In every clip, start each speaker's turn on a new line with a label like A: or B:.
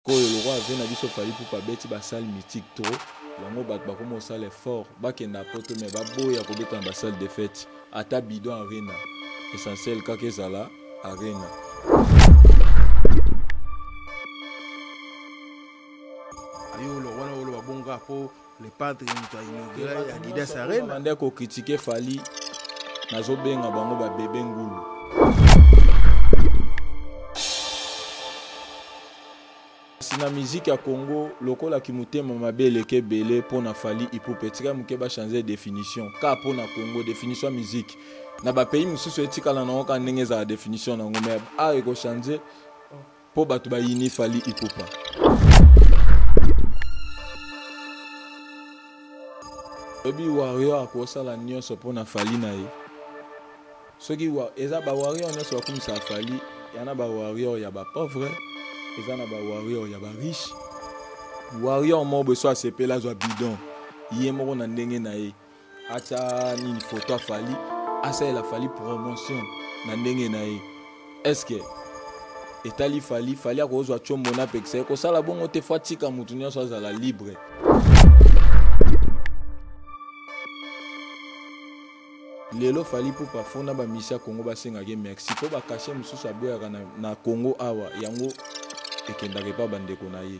A: koyo lokola vie na biso fali pupa abeti basale mythique trop yango bato bakoma osala effort bakenda poto mai baboya kobeta na basale de fete ata bidon arena essentiel kaka ezala arena
B: ayo wana oloba bonga po le padre moto ainaugura adidas arena banda kokritike
A: fali nazobenga bango babebe ngulu kasi na miziki ya congo lokola kimotema mabe eleki ebele mpo na fali ipupe etika moke bachange definition ka mpo na congo definition ya miziki na bapays mosusu etikala na yango kaka ndenge ezala definition na yango mai awa ekochange Po bato ba yini Fally Ipupa. Obi Warrior akosala nioso po na Fally na ye. Soki wa, eza ba Warrior nioso bakumisa Fally, yana ba Warrior ya ba pauvre, eza na ba Warrior ya ba riche. Warrior moko boye so asepela azwa bidon ye moko na ndenge na ye. atya nini foto afali asalela fali promotion na ndenge na ye estce etali fali fali akozwa combo na pekisa ye kosala bongo te fo atika moto nyonso azala libre lelo fali pupa fo na bamisi ya congo basengaka ye merci mpo bakashe mosusu aboyaka na, na congo awa yango ekendaka epa bandeko na ye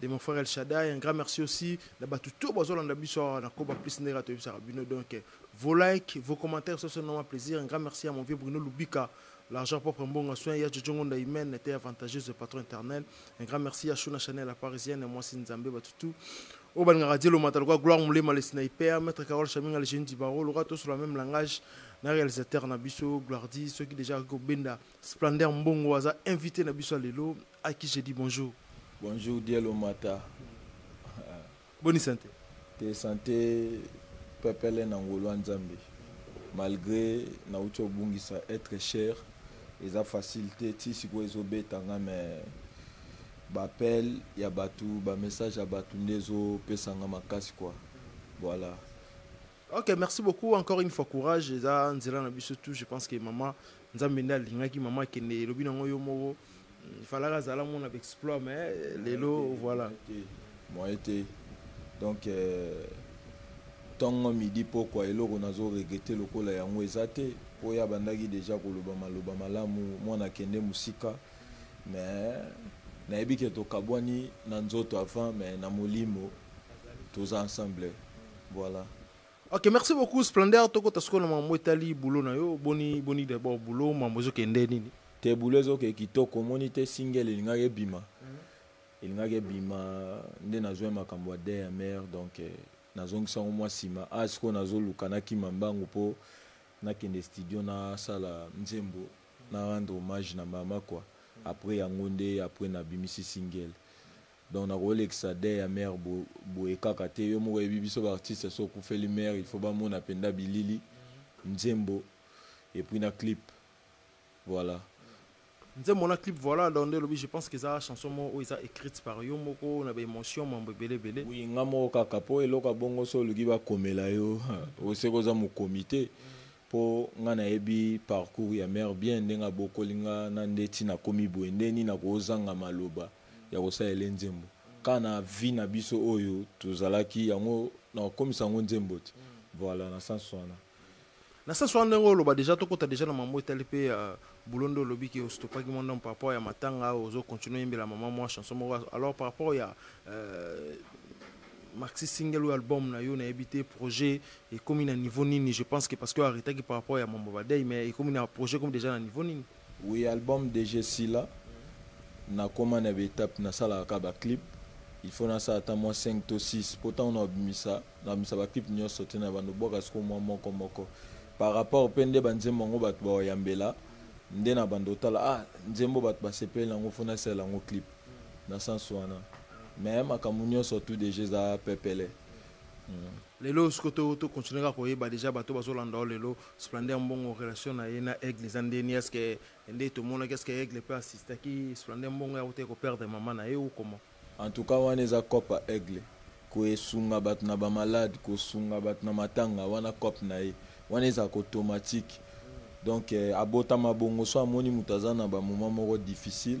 B: de mon frère El Shaddai, un grand merci aussi. Na batu tout bozo landa biso na koba plus nera to bisa bino donc vos likes, vos commentaires ce sont un plaisir. Un grand merci à mon vieux Bruno Lubika. L'argent propre mbonga soin ya Jojongo nda humaine était avantageuse de patron éternel. Un grand merci à Shuna Chanel la parisienne et moi c'est Nzambe batu tout. Au ban radio le matal quoi gloire moulé mal sniper maître Carole Chaminga le jeune du barreau le roi tous sur le même langage na réalisateur na biso gloire dit ceux qui déjà ko benda Splendeur Mbongo aza invité na biso lelo à qui j'ai dit bonjour. Bonjour Dielo
A: Mata.
B: Bonne santé. Te santé
A: pepele na ngolwa nzambe malgré nauti obungisa être cher eza facile te ti sikoyo ezobeta nga mais baappel ya bato bamessage ya bato nde ezopesa nga makasi kua voilà Ok,
B: merci beaucoup. Encore une fois, courage. Et ça, Nzela na biso tout. Je pense que maman, Nzambe nda lingaki maman kende lobi na ngoyo moko. Il fallait la zala mon avec exploit mais lelo voilà. Moi été.
A: Donc euh, ntongo midi pokwa eloko nazo regrete lokola yango eza te mpo ye abandaki deja koloba maloba malamu mwana akende mosika mais nayebi ke tokabwani na nzoto avant mais na molimo toza ensemble voilà ok merci
B: beaucoup splendeur tokota sikoyo na mambo etali boulot na yo boni boni d'abord boulot mambo ezokende nini te boulot ezokee
A: kitoko omoni te single elingaki ebima mhm. elingaki ebima nde nazwai makambo ya dmr donc eh, nazongisa yango mwa nsima a ah, sikoyo nazoluka nakima mbangu mpo nakende studio nasala nzembo na rendre hommage na mama kua après yango nde après nabimisi single donc nakolekisa de ya mère boye kaka te yo moko oyebi biso baartiste so okufeli mère il faut bamona mpenda bilili nzembo et puis na clip voilà
B: nzembo na clip voilà donc nde olobi je pense que eza chanson moko oyo eza écrite par yo moko na baémotion mambo ebele ebele oui nga moko kaka
A: mpo eloko ya bongo so oluki bakomela yo oseki oza mokomi te mpo nga nayebi parcours ya mare bien ndenge abokoli nga na ndeti nakomi boye nde nini nakozanga maloba ya kosala ele nzembo kaka na vie na biso oyo tozalaki yango nakokomisa yango nzembo te voilà na sens wana na sens
B: wana ndenge oloba deja tokota deja na mambo etali mpe ya euh, bulo nde olobi ke ostopaki mwa ndambo par rapport ya matanga ozo continue oyembela mama mwa chanson moko alors par rapport ya euh, maxi single oyo album na yo nayebi te projet ekomi na niveau nini je pense que parce que aretaki par rapport ya mambo badei mais ekomi na projet ekomi deja na niveau nini Oui album dej
A: esila nakoma na ba etape nasalaka kaka ba clip il faut nasala ata mwa 5 to 6 mpo ntango nabimisa nabimisa ba clip nyonso te na bando bwaka siko mwa moko moko par rapport mpe nde banzembo yango bato baoyambela nde na bando otala ah nzembo bato basepeli nango fo nasalela yango clip na sens wana mais makambo nyonso tu deja eza pepele mm.
B: lelo siko tokontinue kaka koyeba deja bato bazolanda o lelo Splendeur Mbongo relation na ye na Aigle eza nde ni est-ce que nde tomonaki est-ce que Aigle pe assistaki Splendeur Mbongo ya kote ko perdre maman na ye ou comment En tout cas wana
A: eza cop ya Aigle koesunga bato na ba malade kosunga bato na matanga wana cop na ye wana eza ko automatique donc eh, abotama bongo so amoni moto aza na ba moment moko difficile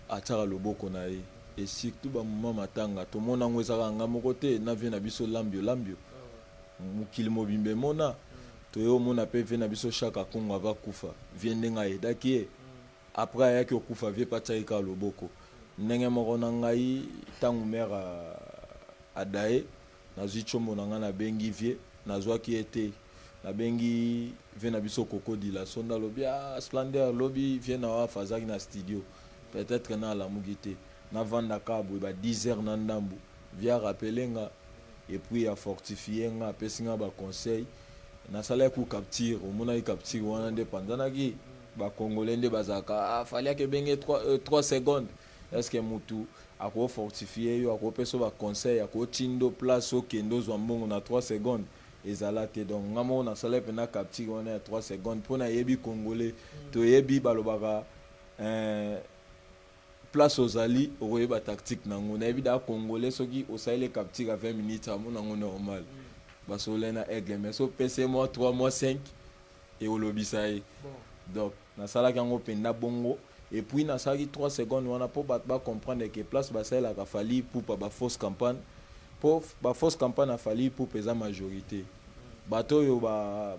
A: atiaka loboko na ye et surtout ba moment matanga tomona yango ezaka nga moko te na vie na biso lambio lambio mokili mobimba emona toye omona mpe vie na biso shaka kongo ava kufa vie ndenge ayedaki ye après ayaki okufa vie mpe atiaki kaka loboko ndenge moko na ngai ntango mere adaye nazwi tshombo na ngai nabengi vie nazwaki ye te nabengi vie na biso kokodila sonda lobi a ah, splendeur lobi vie na wafa azalaki na studio peut-être na alamuki te navandaka boye ba 10 heures na ndambu vie a rappeler nga et puis a fortifier nga apesi nga ba conseil nasalaki ku capture omonaki capture wana nde panzanaki ba congolais nde bazalaka ah, fali akebenge 3 euh, 3 secondes est ce que mutu ako fortifier yo ako pesa ba conseil ako tindo place okende ozwa mbongo na 3 secondes ezala te donc nga moko nasalaki mpena capture wana ya 3 secondes mpo nayebi congolais toyebi balobaka eh, place ozali okoyeba tactique nango nayebi da congolais soki osaleli capture ya 20 minutes amona yango normal basololai na aigle mais so pese mwa 3 mwa 5 ekolobisa ye donc nasalaki yango mpenza bongo et puis nasalaki 3 secondes wana mpo bato bacomprendre ke place basalelaka fali ipupa bafausse campagne mpo bafausse campagne ya fali ipupa eza majorité bato oyo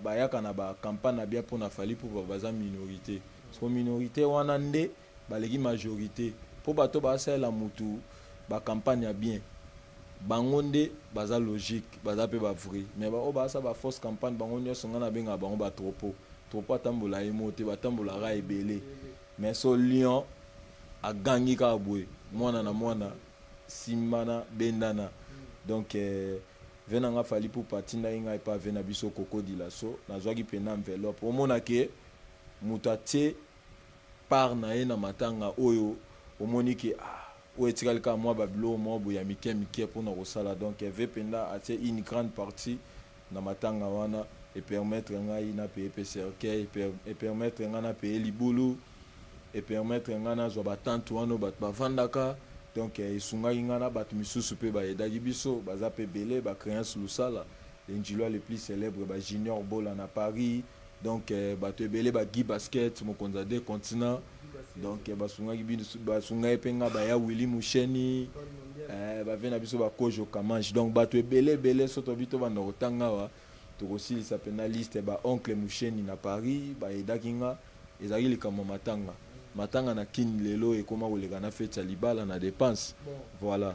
A: bayaka na bacampagne na bien mpo na fali ipupa baza minorité so minorité wana nde baleki majorité mpo bato basalela mutu ba campagne ya bien bango nde baza logique baza mpe bavrai mais baoyo baasa ba fausse campagne bango nyonso ngai nabengaka bango batropo tropo atambola ye mo te batambolaka ebele mais so lion agangi kaka boye mwana na mwana simbana bendana donc eh, ve na nga fali pupa atindaki ngai epa ve na biso kokodila so nazwaki mpena enveloppe omona ke moto atie part na ye na matanga oyo omoni ke ah, oyo etikali kaka mwa ba biloko moko boye ya mike mike mpo na kosala donc Herve Penda atie une grande partie na matanga wana e permettre ngai na paye pe cercueil e permettre ngai na paye libulu e permettre ngai nazwa ba tente wana oyo bato bavandaka donc esungaki ngai na bato misusu mpe baedaki biso baza mpe ebele ba créance lusala le njilwa le plus célèbre ba junior bola na paris donc euh, bato ebele bagi basket mokonzi ya deux continent donc euh, basungaki basunga ye mpe nga baya willi musheni euh, bave na biso bakojo kamange donc bato ebele ebele so tobi tobanda kotanga awa tokosilisa mpe na liste ba oncle musheni na paris bayedaki nga ezalaki likambo ya matanga matanga na kin lelo ekoma koleka na feti ya libala na dépense voilà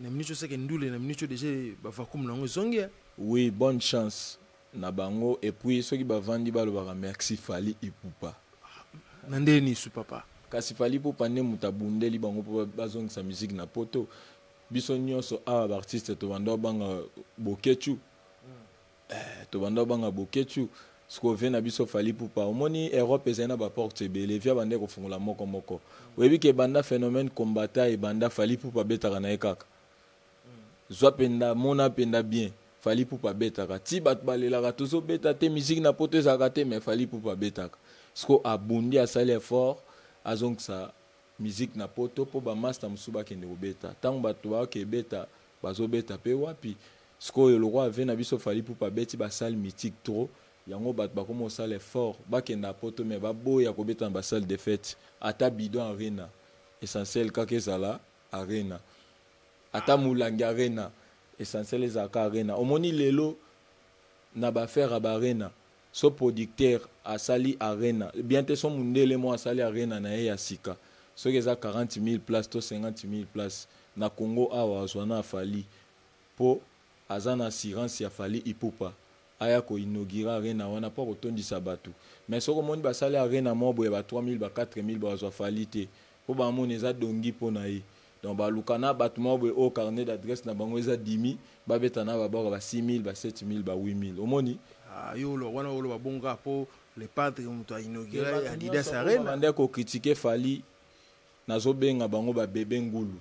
B: na minute oyo seke ndule na minute oyo deja bavacume
A: na yango ezongi eh. oui bonne chance na bango et puis soki bavandi balobaka merci fali ipupa na ndenge
B: nini su papa kasi fali ipupa nde
A: moto abundeli bango mpo bazongisa miziki na poto biso nyonso awa baartiste tobanda obanga bokechu Eh, tobanda obanga boketshu sikoyo vie na biso fali pupa omoni europe ezali na baporte ebele vie abanda ekofungola moko moko oyebi ke ebanda phénomène combata ebanda fali pupa abetaka na ye kaka zwa mpenda mona mpenda bien fali pupa abetaka ti bato balelaka tozobeta te miziki na poto ezalaka te mais fali pupa abetaka sikoyo abundi asali effort azongisa miziki na poto mpo bamasta mosusu bakende kobeta ntango bato bayoka ebeta bazobeta mpe wapi Sikoyo lokola vie na biso Fally Ipupa abeti ba salles mythiques trop, yango batu bakoma kosala effort bakenda poto mais baboya kobeta na ba salles de fete ata bidon arena essentiel kaka ezala arena ata mulangi arena essentiel ezala kaka arena omoni lelo na ba affaire ya ba arena so producteur asali arena bien te so mundele mo asali arena na ye ya sika soki eza 40 000 places to 50 000 places na Congo awa azwa na Fally po aza na assurance ya Fally Ipupa aya ko inaugurer arena wana po ako tondisa batu mais soki omoni ba sali arena moko boye ya ba 3000 ba 4000 baka zua Fally te po ba mona eza dongi po na ye donc ba luka na batu moko boye oyo carnet d'adresse na bango eza dimi ba beta na ba baka ba 6000 ba 7000 ba 8000 omoni Ah, yo oloba wana
B: oloba bongo kaka po le padre moto a inaugure adidas arena bande ko critiquer
A: Fally nazo benga bango ba bebe ngulu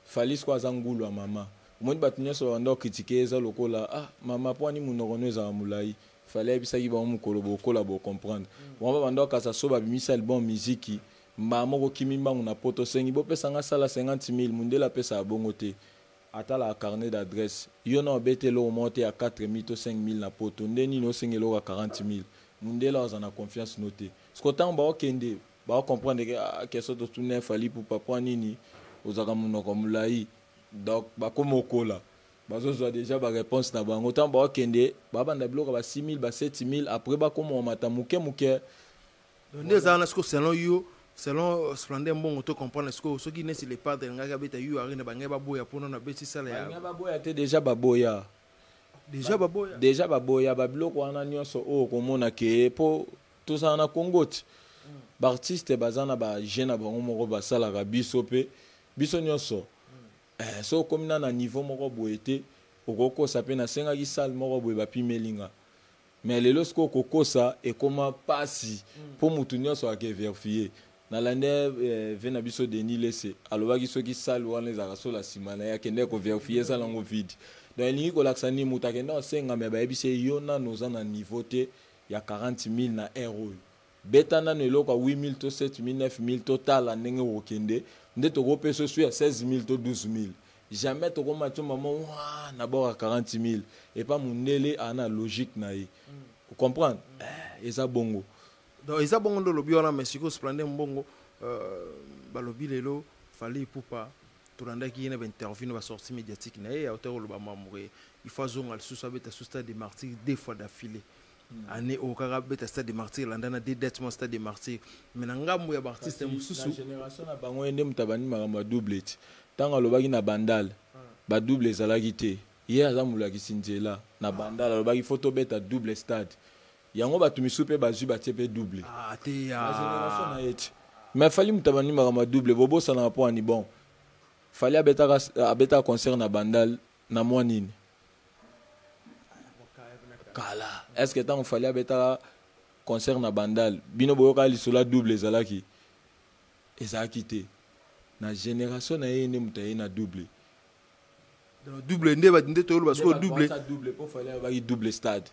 A: Fally sikoyo aza ngulu ya mama. Omoni bato nyonso babanda ko critiquer ye eza lokola ah mama mpo ani munoko no ezala mulayi. Fally ayebisaki bango mukolo bokola bo comprendre. Bango babanda ko kasa so babimisi album miziki mbala moko okimi mbangu na poto osengi bopesa nga asala 50 milles mundele apesaka bongo te atalaka carnet d'adresse. Yo nao obeta eloko moko te ya 4 milles to 5 milles na poto nde nini osenga eloko ya 40 milles mundele akozala na confiance no te. Sikoyo tango bao kende ba comprendre que ah, que soto tuna fali pour papa nini ozaka munoko mulai donc ba komokola bazozwa deja bareponse na bango ntango bakokende babanda biloko ba 6000 ba 7000 après bakomomata moke moke
B: nde ezala na siko selon yo selon euh, splendeur mbongo to comprendre sikoyo soki nesi le padre alingaki abeta yu arena bangai baboya mpo nano abeti sala ya baboya te deja
A: baboya deja baboya deja baboya babiloko wana nyonso oyo okomona ke mpo tozala na congo ti baartiste baza na baje na bango moko basalaka biso mpe biso nyonso eh, so okomi na na niveau moko boye te okokosa mpe nasengaki sale moko boye bapimeli nga mais lelo sikoyo kokosa ekoma mpasi mpo mm. motu nyonso akeverifie nalande eh, ve na biso denis lese alobaki soki sale wana ezalaka sola nsima na ye akendeki koverifie eza nango vide donc elingi kolakisa nini moto akenda osenga me bayebisi ye yo nano oza na niveau te ya 40000 na heure oyo beta nanu eloko ya 8000 to 7000 9000 totala ndenge okokende nde tokopesa osu ya 16000 to 12000 jamais tokoma tio mama wa na bord ya 40000 epa mundele ana logique na ye mm. ocomprendre mm. eh, eza bongo donc eza bongo
B: nde olobi wana mais sikoyo splende mbongo euh, balobi lelo fali ipupa tolandaki ye na bainterview na basortie médiatique na ye autaki koloba mambo ke il faut azonga lisusu abeta su stade de martyr deux fois d'affilée hmm. année oyo kaka abeta stade de martyr elanda na deux date mwa stade de martyr mais na ngambo ya baartiste mosusu génération na bango
A: ye nde moto abandi makambo ya double ti ntango alobaki na bandal ah. badouble ezalaki te ye aza molakisi nzela na bandal alobaki faut tobeta double stade Yango batu misu pe bazui batie pe double. Ah te ya. Na
B: generation na ye ti.
A: Mais fali mutaba ni makambo ya double bobosana na po ani bon. Fali abetaka abetaka concert na bandal na mwa nini? kala est ce que tango fali abetaka concert na bandal bino boyokaka lisolo ya double ezalaki ezalaki te na generation na ye nde moto aye na double
B: double nde bati nde toyoloba sikoyo double double mpo fale
A: abaki double stade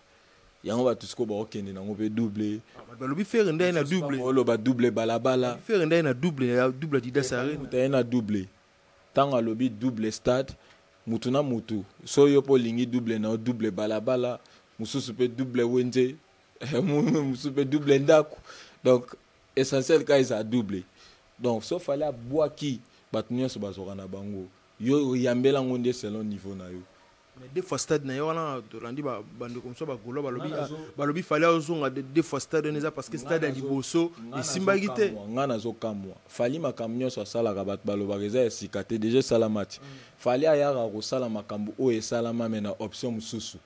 A: yango bato sikoyo bakokende nango mpe double ah, balobi fere nde
B: aye na double oloba double balabala
A: fere nde aye na double
B: ya double adidas arena moto aye na double
A: ntango alobi double stade motu na motu so yo mpo olingi double na yo double balabala mosusu mpe double wenze mosusu mpe double ndako donc essentiel ka eza double donc so fale abwaki bato nyonso bazwaka na bango yo oyambela yango nde selon niveau na yo mais deux fois stade
B: na ye wana tolandi bandeko mosusu bagolo balobi ah, balobi fali azonga deux fois stade wana eza parce que stade ya liboso esimbaki te ngai nazokamwa
A: fali makambo nyonso asalaka bato balobaka eza ya sika te deja esala match mm. fali ayaka kosala makambo oyo esalama me na option mosusu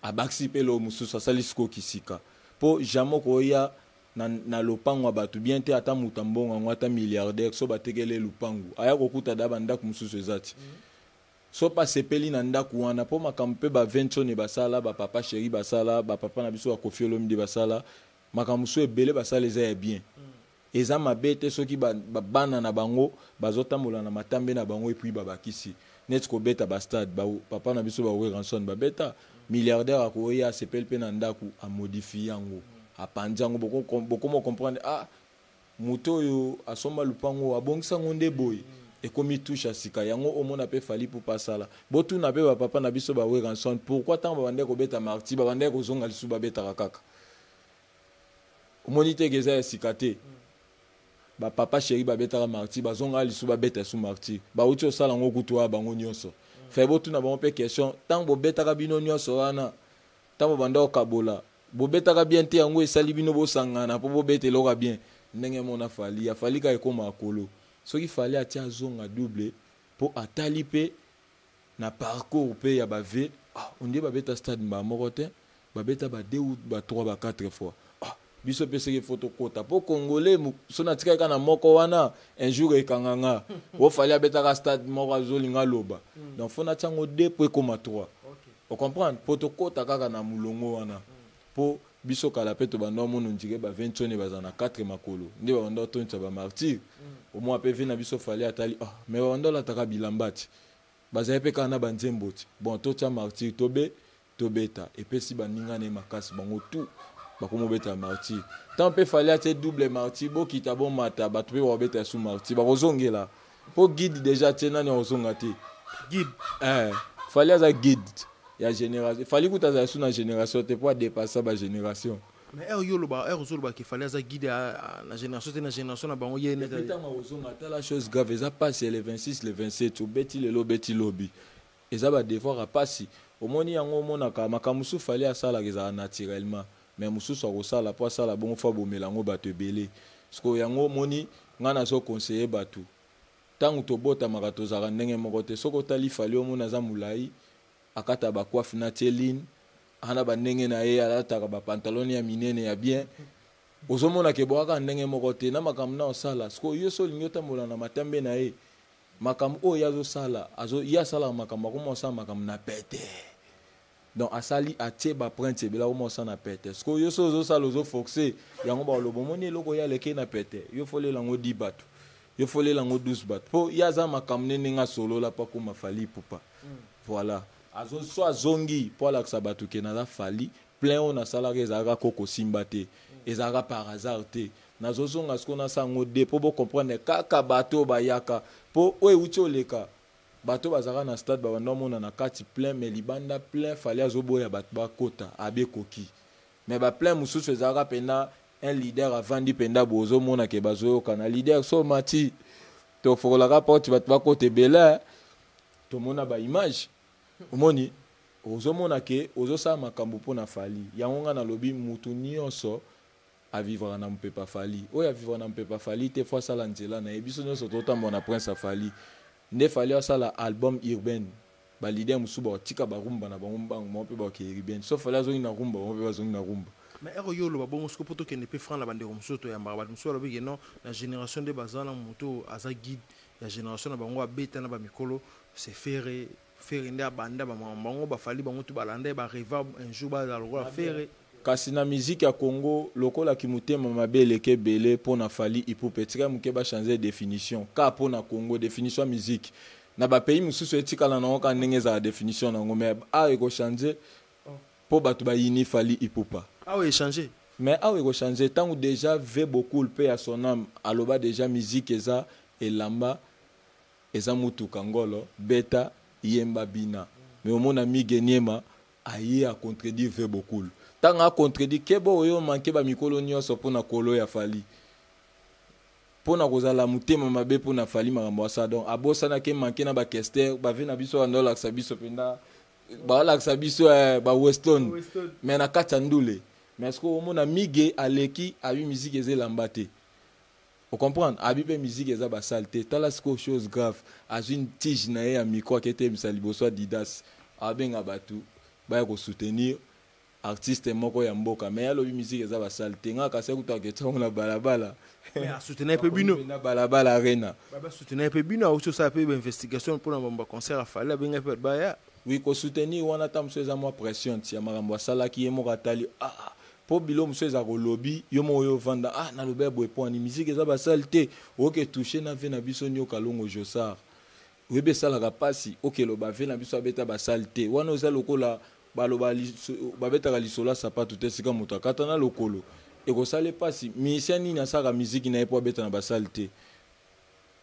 A: abakisi mpe loo mosusu asali sikoki sika mpo jamai okoya na, na lopango ya bato bien te ata moto ya mbongo yango ata milliardaire so batekeli ye lopango aya kokuta da bandako mosusu eza ti mm. so mpe asepeli na ndako wana mpo makambo mpe baventsone basala bapapa sheri basala bapapa na biso bakofi olomide basala makambo mosusu ebele basala eza ya bien mm. eza mabe te soki ba, ba, bana na bango bazotambola na matambe na bango epuis babakisi neti kobeta bastade ba, papa na biso bawe ranson babeta ba Milliardaire akoye asepeli pe na ndaku a modifie yango apanzi yango bokomo comprendre ah moto oyo asomba lupango abongisa yango nde boye ekomi touche ya sika yango omona pe fali pupa asala botuna pe ba papa na biso ba weranson pourquoi tango babandaki kobeta marti babandaki kozonga lisusu babetaka kaka omoni te ke eza ya sika te ba papa cheri babetaka marti bazonga lisu babeta esu marti bauti osala yango kutu wana bango nyonso fai botuna bango mpe question ntango bobetaka bino nyonso wana ntango bobanda kokabola bobetaka bien te yango esali bino bosangana mpo bobeta eloko ya bien ndenge mona fali ya fali kaka ekomaka kolo soki fali atia azonga double mpo atali mpe na parcours pe ya ba vues ah on dirait babeta stade mbala moko te babeta ba deux ou ba trois ba quatre fois ah biso pe seke faut tokota po congolais so natikaki kaka na moko wana un jour ekanga nga o fali abetaka stade moko azolinga aloba hmm. donc faut natia yango deux po ekoma trois ocomprendre po tokota kaka na molongo wana hmm. Po biso kala pe tobanda omona ondire ba vie nsone baza na quatre makolo nde babanda otondisa ba martyr mm. omona pe vie na biso fali atali ah mais babanda olataka bilamba ti bazali pe kaka na ba nzembo ti bon totia martyr tobe tobeta epesi baninga na ye makasi bango tout bakoma obeta martyr ntango mpe fali atie double martyr bokita bomata bato mpe bakobeta su martyr bakozongela po guide deja tie nani akozonga te guide
B: eh, fali
A: aza guide ya génération fali kuta azala su na génération te po adepassa bagénération mais heure yo oloba
B: heure ozoloba ke fali aza guide na génération te na génération na bango ye ntango akozonga ata
A: la chose grave eza pasi ya le 26 le 27 obeti lelo obeti lobi Eza ba devoir ya pasi omoni yango omonaka makambo mosusu fally asalaka ezalaka naturellement mais mosusu akosala po asala bongo faut abomela yango batu ebele sikoyo yango omoni ngai nazo conseiller batu tango tobotamaka tozalaka ndenge moko te soki otali fally omoni aza mulayi akata ba coiffe na tie ligne ana ba ndenge na ye alataka ba pantalon ya minene ya bien ozomona ke boyaka ndenge moko te na makambo na osala sikoyo yo so olingi otambola na matambe na ye makambo oyo ye azosala azo, ye asalaka makambo akoma osala makambo na pete donc asali atie baprinte ebele akoma osala na pete sikoyo yo so ozosala ozofoxe yango bakoloba omoni eloko ye alekei na pete yo folela yango di bato yo folela yango 12 bato mpo ye aza makambo ne ndenge asolola mpo akoma fali pupa mm. voilà azo so azongi mpo alakisa bato ke naza fali plein oyo nasalaka ezalaka koko simba te mm. ezalaka par hasard te nazozonga siko na sango de mpo bocomprendre kaka bato oyo bayaka mpo oyo euti oleka bato bazalaka na stade babanda omona na kati plein mais libanda plein fali azoboya bato bakota abi ekoki mais baplein mosusu ezalaka mpena un leader avandi mpenda boye ozomona ke bazoyokana leader so mati tofokolaka porte bato bakota ebele tomona baimage omoni ozomona ke ozosala makambo mpo na fali yango ngai nalobi motu nyonso a vivaka na mopepe ya fali oyo a vivaka na mopepe ya fali te fo asala nzela na ye biso nyonso totambola na prince ya fali nde fali asala album urbaine balider mosusu bakotika barumba na bango mbangu bango mpe bakokende urbaine so fali azongi na rumba bango mpe bazongi na rumba mais ero yo oloba
B: bongo soko mpo tokende mpe franc na bandeko mosusu toyambaka bato mosusu balobi ke non na génération nde baza na moto aza guide ya génération na bango abeta na bamikolo sefere Ferre nde abanda ba maman bango ba fali bango tout balanda ba reva un jour ba la lokola Ferre. Kasi na musique
A: ya Congo lokola ki mutema mabe eleke ebele pona fali ipupa etika muke ba changer definition ka pona Congo definition ya musique na ba pays mususu etikala na oka ndenge ezala definition na ngo mais awa eko changer po batu ba yini fali ipupa. Awa e changer.
B: Mais awa eko
A: changer tangu deja ve beaucoup pe ya son ame aloba deja musique eza elamba Eza mutuka ngolo beta yemba bina mais omona migue niema aye a contredire vue bokul tango a contredire keba oye o manque ba mikolo nionso pona kolo ya fally pona kozala mutema mabe pona fally makambo asala donc abosana ke manque na ba kester ba vue na biso banda olakisa biso penda balakisa biso eh, ba weston mais na kati ya ndule mais sikoyo omona migue aleki abi miziki eza elamba te O comprendre? Abi pe musique eza ba salle te. Tala sikoyo chose grave. Azui tige na ye ya micro ake teyebisa liboso Adidas. Abenga batu baya ko soutenir artiste moko ya mboka mais ye alobi musique eza ba salle te. Nga kasi kutu aketia yango na bala bala. Mais a soutenir
B: pe bino. Bakomi na bala bala arena.
A: Ba ba soutenir pe bino
B: auti osala pe ba investigation pona ba concert ya Fally abengaki batu baya. Oui ko soutenir
A: wana ata mosusu eza mua pressions ya makambo asalaki ye moko atali ah po bilo mosusu eza kolobi yo moko yo vanda ah naloba ya boye poani miziki eza basale te oke touche na vie na biso nioka longo josar oyebi esalaka mpasi oke loba vie na biso abeta basale te wana oza lokola baloba babetaka lisolo ya sapatu te sika moto akata na lokolo ekosala mpasi misien nini asaka miziki na ye mpo abeta na basale te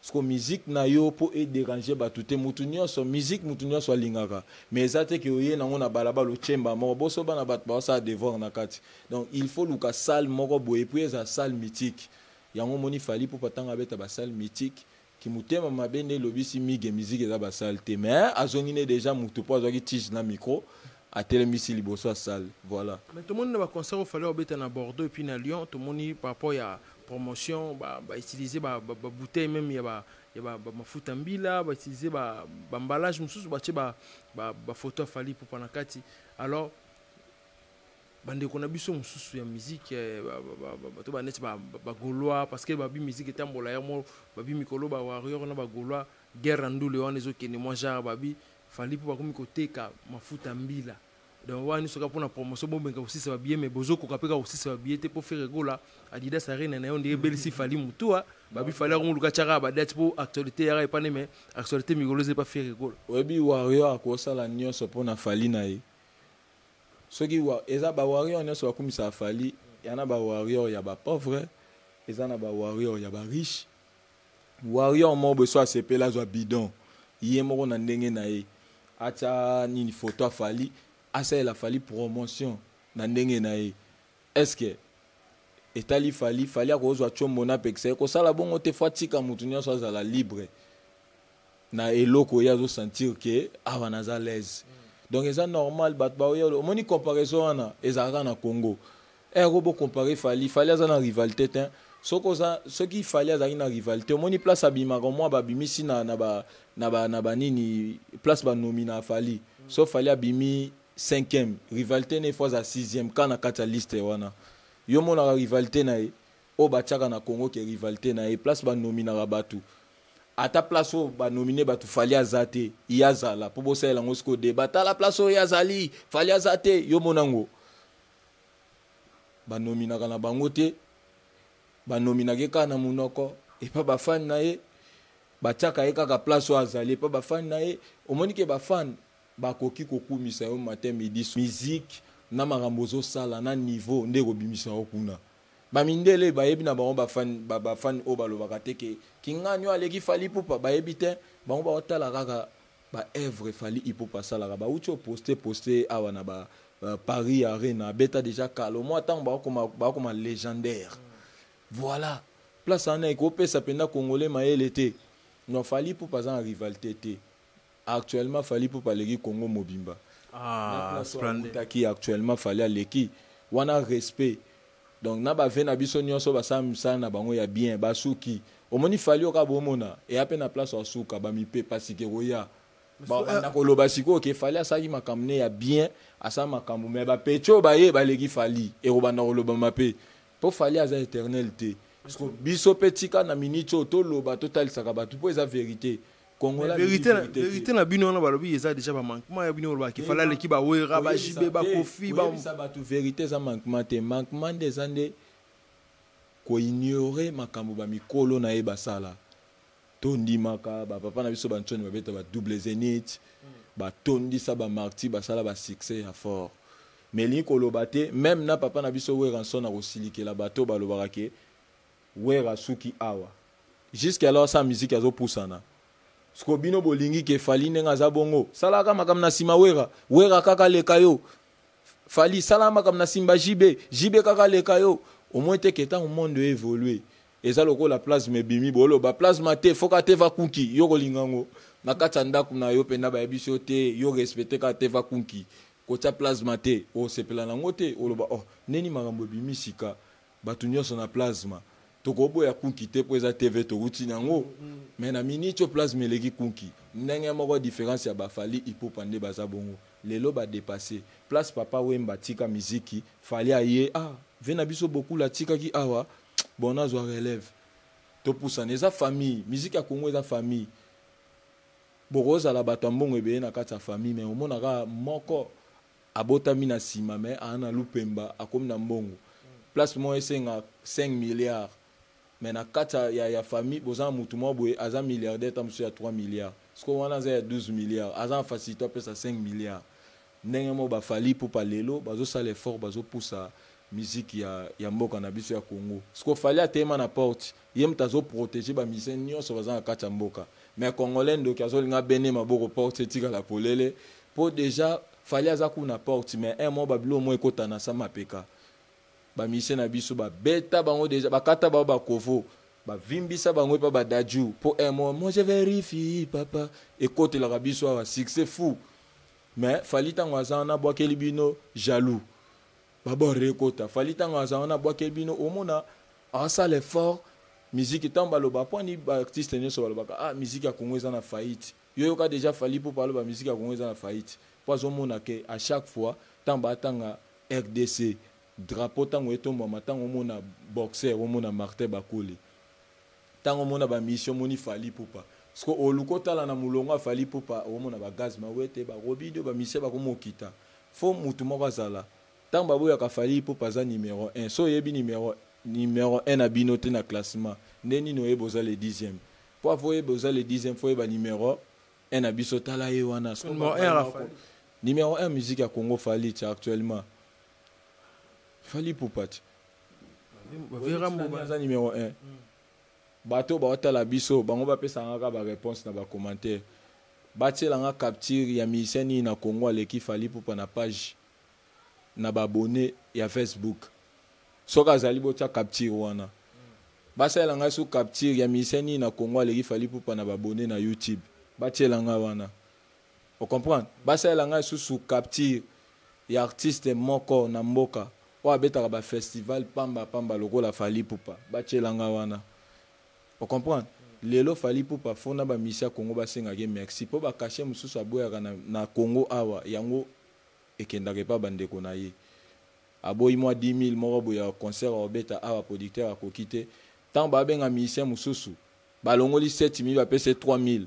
A: Siko musique na yo po e déranger bato te mutu nyonso musique mutu nyonso alingaka mais eza te ke oye nango na balabala ochemba moko boso bana bato baosala devoir na kati donc il faut luka salle moko boye puis eza salle mythique yango omoni fali po patanga abeta ba salle mythique kimotema mabe nde elobisi migue musique eza ba salle te mais azongi ne déjà mutu po azwaki tige na micro atelemisi liboso ya salle voilà mais tomoni na ba concert
B: ofali obeta na bordeaux epuis na lyon tomoni par rapport ya promotion ba, ba utiliser ba, ba, ba bouteille même ya ba ya ba, ba mafuta mbila ba utiliser ba ba emballage mususu ba ba ba, ba photo afali pour panakati alors bandeko na biso mosusu ya miziki eh, bato baneti bagaulois parce que babi miziki etambola yango babi mikolo ba warrior na bagaulois guerre ya ndule wana ezokende mwa genre babi fali mpo bakomi koteka mafuta mbila donc wana nyonso kaka mpo na promotion bomeka kosisa babiye me bozokoka mpe kaka kosisa babiye te mpo fere gola adidas arena na yo ndenge ebelisi fali mutua babi fali yango moluka tyaka badate mpo actualité yaka epane me actualité mikolo eza epa fere gola oyebi warrior
A: akosala nyonso mpo na fali na ye soki eza bawarrior nyonso bakumisaka fali ya na bawarrior ya bapauvre eza na bawarrior ya bariche warrior moko beso asepeli azwa bidon ye moko na ndenge na ye atya nini foto afali asalela fali promotion na ndenge na ye estce etali fali fali akozwa combo napekisa ye kosala bongo te fo atika motu nyonso azala libre na eloko ye azosentir ke awa naza laise donc eza normal bato baoya omoni comparaison wana ezalaka na congo Eh ko bo comparer Fally, Fally aza na rivalité te. Soki oza soki Fally azalaki na rivalité, omoni place abimaka mwa babimisi na na ba na ba na ba nini place ba nomina Fally. So Fally abimi 5e, rivalité ne fois à 6e kana kati ya liste wana. Yo monaka rivalité na ye oyo batiaka na Congo ke rivalité na ye place ba nominaka bato ata place oyo banomine bato fali aza te ye azala mpo bosalela yango sikoyo deba tala place oyo ye azali fali aza te yo monango banominaka na bango te banominaka ye kaka na monoko epa bafani na ye batiaka ye kaka place oyo azali epa bafani na ye omoni ke bafani bakoki kokumisa yo matin midi musique na makambo ozosala na niveau nde ekobimisa yo kuna bamindele bayebi na bango bafani bafani oyo balobaka te ke kingani oyo aleki fali pupa bayebi te bango baotala kaka ba œuvre Fally Ipupa asalaka bauti o poste poste awa na ba euh, Paris Arena abeta déjà kalo mwa ntango bakoma bakoma légendaire voilà place wana ekopesa mpenza congolais mayele te non Fally Ipupa aza na rivalité te actuellement Fally Ipupa aleki Congo mobimba ah, na place oyo akutaki actuellement Fally aleki wana respect donc na ba vie na biso nyonso basala misala na bango ya bien basuki omoni fali oka bomona eya mpe na place asuka bamipepa sika ekoya babanda euh, koloba sikoyo ke fali asalaki makambo ne ya bien asala makambo me bapeti oyo baye baleki fali ekobanda kolobama mpe mpo fali aza éternel te biso mpe tika na miniti oyo toloba totalisaka bato mpo eza verité Congolais verite na verite na
B: bino wana balobi eza déjà ba manquement ya bino baloba ki fala leki ba wera ba jibe ba kofi ba sa ba tu verite eza
A: manquement te manquement nde eza nde ko ignorer makambo ba mikolo na ye basala to ndimaka ba papa na biso ba nsoni babeta ba double zenith ba tondisa ba marti basala ba succès ya fort mais elingi koloba te meme na papa na biso weranson akosilikela bato balobaka ke Werra asuki awa. Jusque alors sa musique azo pusana. Siko bino bolingi ke Fally ndenge aza bongo. Salaka makambo na sima Werra. Werra kaka leka yo. Fally sala makambo na simba JB. JB kaka leka yo. Au moins te ke tango monde e évoluer. Eza lokola plasme ebimi bolo ba plasma te foka te va kunki yo kolinga ngo na kati ya ndako na yo penda bayebisi yo te yo respecte kaka te va kunki kotya plasma te osepela na yango te oloba oh ndeni makambo ebimi sika bato nyonso na plasma tokoboya kunki te mpo eza tv towuti nango mm, mm. me na miniti oyo plasma eleki kunki ndenge moko diference ya bafali ipupa nde baza bongo lelo badepasse place papa wemba tika miziki fali aye ah ve na biso bokula atikaki awa bon nazwa relève topusana eza famille miziki ya kongo eza famille bokozala bato ya mbongo ebele na kati ya famille me omonaka moko abotami na sima mais a na lupemba akomi na mbongo place moko esenga 5 milliards mais na kati ya, ya famille boza na mutu moko boye aza milliardaire ta mosusu ya 3 milliards sikoyo wana aza ya 12 milliards aza na facilité apesa 5 milliards ndenge moko bafali ipupa lelo bazosala effort bazopusa miziki ya, ya mboka na biso ya congo sikoyo fali ateyema na porte ye moto azo protege ba musiciens nyonso baza na kati ya mboka mais congolais ndoki azolinga bene maboko porte etikala polele po deja fali aza kuna na porte mais un mo babilo mo ekota na sa mapeka ba musiciens na biso babeta bango deja bakata bango bakovo bavimbisa bango epa badaju po un mo mo je verifie papa ekotelaka biso awa succès fou mais fali ntango aza wana abwakeli bino jaloux babor rekota fali ntango aza wana abwakeli bino omona asala effort miziki ntango baloba mpo ani baartiste nyonso balobaka ah miziki ya kongo eza na faillite yo yoka deja fali mpo baloba miziki ya kongo eza na faillite mpo azomona ke à chaque fois ntango batanga rdc drapeau ntango etombwama ntango omona boxer omona martin bakuli tango mona ba mission moni fali pupa siko oluka otala na mulongo afali pupa omona ba gaz mawete ba robido ba mission bakomokita fo mutu moko azala tango baboyaka fali pupa aza numero 1 so oyebi numero numero 1 na bino te na classement nde nini oyebi oza le 10e po avo oyebi oza le 10e fo oyeba numero 1 na biso tala ye wana numero 1 musique ya congo fali ti actuellement fali pupa ti aza numéro 1 hmm. bato baotala biso bango bapesanga kaka baréponse na bacommentaire batielanga capture ya musicien nini na congo aleki fali pupa na page na baabonne ya facebook soki azali botya capture wana basalela ngai so capture ya musicien nini na congo aleki fali pupa na baabonne na youtube batiela ngai wana ocomprendre basalela ngai susu capture ya artiste moko na mboka oyo abetaka ba festival pamba pamba lokola Fally Ipupa batiela nga wana o comprendre lelo Fally Ipupa faut na ba musiciens ya Congo basengaka ye merci po ba cachet mosusu aboyaka na, na Congo awa yango ekendaka epa ba ndeko na ye aboyi mwa 10000 moko boye ya concert akobeta awa producteur akoki te ntango babenga musicien mosusu balongoli 7000 bapesa ye 3000